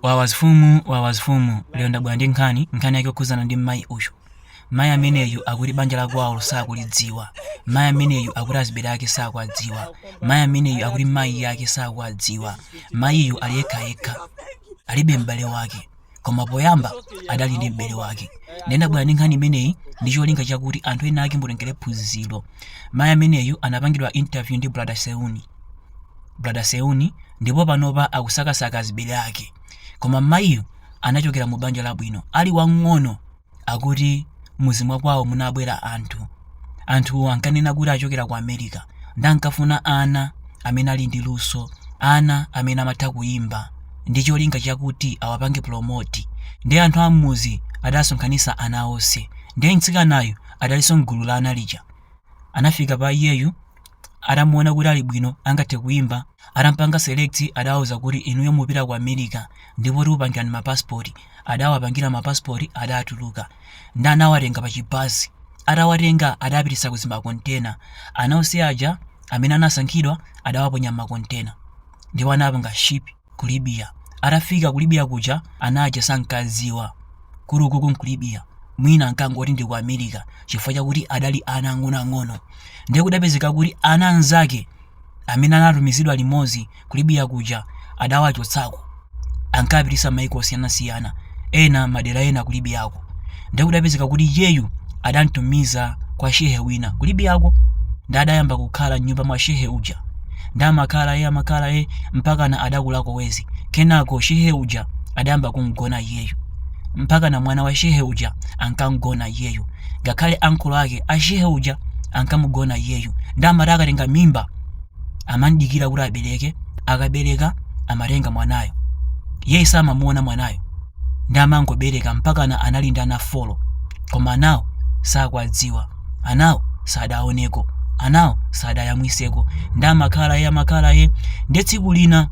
Wawa zfumu wawa zfumu lero ndabwera ndi nkhani, nkhani yake yokhudzana ndi mmayi uyu. Mayi ameneyu akuti banja la kwawolo sakulidziwa. Mayi ameneyu akuti azibere ake sakwadziwa. Mayi ameneyu akuti mayi ake sakwadziwa. Mayiyu ali yekha yekha. Alibe m'bale wake. Koma poyamba adali ndi m'bale wake. Ndiye ndabwera ndi nkhani imeneyi ndi cholinga chakuti anthu ena ake mutengere phunziro. Mayi ameneyu anapangidwa interview ndi Brother Seuni. brother seuni ndipo panopa akusakasaka azibele ake koma mayiyu anachokera mu banja labwino ali wang'ono akuti muzi mwa kwawo munabwera anthu anthuwo ankanena kuti achokera ku america ndi ankafuna ana amene ali ndi luso ana amene amatha kuyimba ndi cholinga chakuti awapange promoti ndi anthu ammuzi adasonkhanisa ana onse ndiye mtsikanayo adalinso mgulu la ana lija anafika pa iyeyu atamuona kuti ali bwino angathe kuimba atampanga select adawauza kuti inuyo mupita ku america ndipo tikupangirani mapasipoti adawapangira mapasipoti adatuluka ndi anawatenga pa chibasi atawatenga adapititsa ku zimakontena ana onse aja amene anasankhidwa adawaponya m'makontena ndipo anapanga shipi ku Libiya. Atafika ku Libiya kuja ana aja sankadziwa kuti ukoko nku Libiya mwina ankangoti ndi ku America chifukwa chakuti adali ana ang'onoang'ono ndiye kudapezeka kuti ana anzake amene anatumizidwa limodzi ku Libiya kuja adawachotsako ankapititsa maiko osiyanasiyana ena madera ena ku Libiyako ndiye kudapezeka kuti iyeyu adamtumiza kwa shehe wina ku libiyako ndi adayamba kukhala mnyumba mwa shehe uja ndi amakhala ye amakhala ye mpakana adakulako wezi kenako shehe uja adayamba kumgona iyeyu mpakana mwana wa shehe uja ankamgona iyeyu ngakhale ankolo ake a shehe uja ankamugona iyeyu ndi amati akatenga mimba amamdikira kuti abereke akabereka amatenga mwanayo iyeyu samamuona mwanayo ndi amangobereka mpakana anali ndi ana folo koma anawo sakwadziwa anawo sadaoneko anawo sadayamwiseko ndi amakhala ye amakhala ye ndi tsiku lina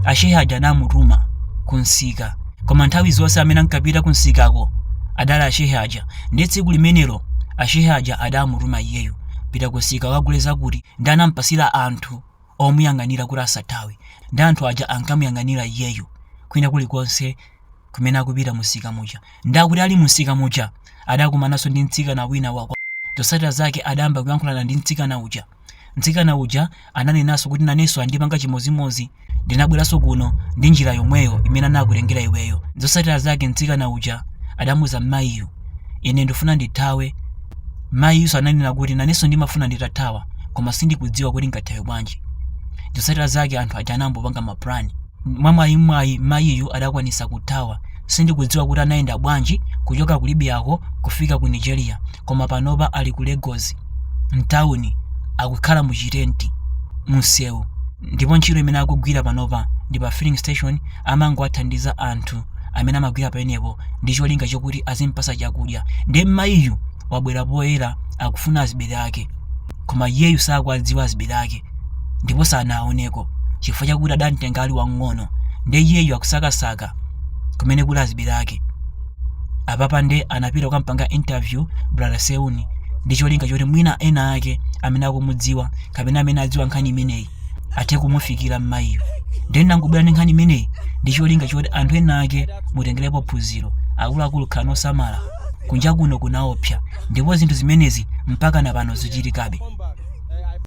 ashehe aja anamutuma kumsika koma nthawi zonse amene ankapita kumsikako adali ashehe aja ndi tsiku limenelo ashehe aja adamutuma iyeyu pita kumsika kagule zakuti ndi anamupatsira anthu omuyang'anira kuti asathawe ndi anthu aja ankamuyang'anira iyeyu kwina kulikonse kumene akupita mumsika muja ndi akuti ali mumsika muja adakumananso ndi mtsikana wina wa kwa zotsatira zake adayamba kuyankhulana ndi mtsikana uja mtsikana uja ananenanso kuti nanenso andipanga chimodzimodzi ndinabweranso kuno ndi njira yomweyo imene anakutengera iweyo zotsatira zake mtsikana uja adamuuza mmayiyu ine ndifuna ndithawe Mayiyunso ananena kuti nanenso ndimafuna nditathawa koma sindikudziwa kuti ngathawe bwanji. Zosatira zake anthu aja anambopanga ma plan. Mwamwayimwayi mayiyu adakwanisa kuthawa. Sindikudziwa kuti anayenda bwanji kuchoka ku Libyako kufika ku Nigeria koma panopa ali ku Legosi mtawuni akukhala mu chitenti munsewu. ndipo ntchito imene akugwira panopa ndi pa filling station amangowathandiza anthu amene amagwira pamenepo ndi cholinga chokuti azimpasa chakudya ndiye mmayiyu wabwera poyera akufuna azibere ake koma iyeyu sakuwadziwa azibere ake ndipo sanawaoneko chifukwa chakuti adamtenga ali wang'ono ndiye iyeyu akusakasaka kumene kuli azibere ake apapa nde anapita kukampanga interview brother seuni ndi cholinga choti mwina ena ake amene akumudziwa kapena amene adziwa nkhani imeneyi athe kumufikira mmayiyu ndiye ndangobwera ndi nkhani imeneyi ndi cholinga choti anthu ena ake mutengerepo phunziro akuluakulu khalani osamala kunja kuno kunaopsa ndipo zinthu zimenezi mpaka na pano zichitikabe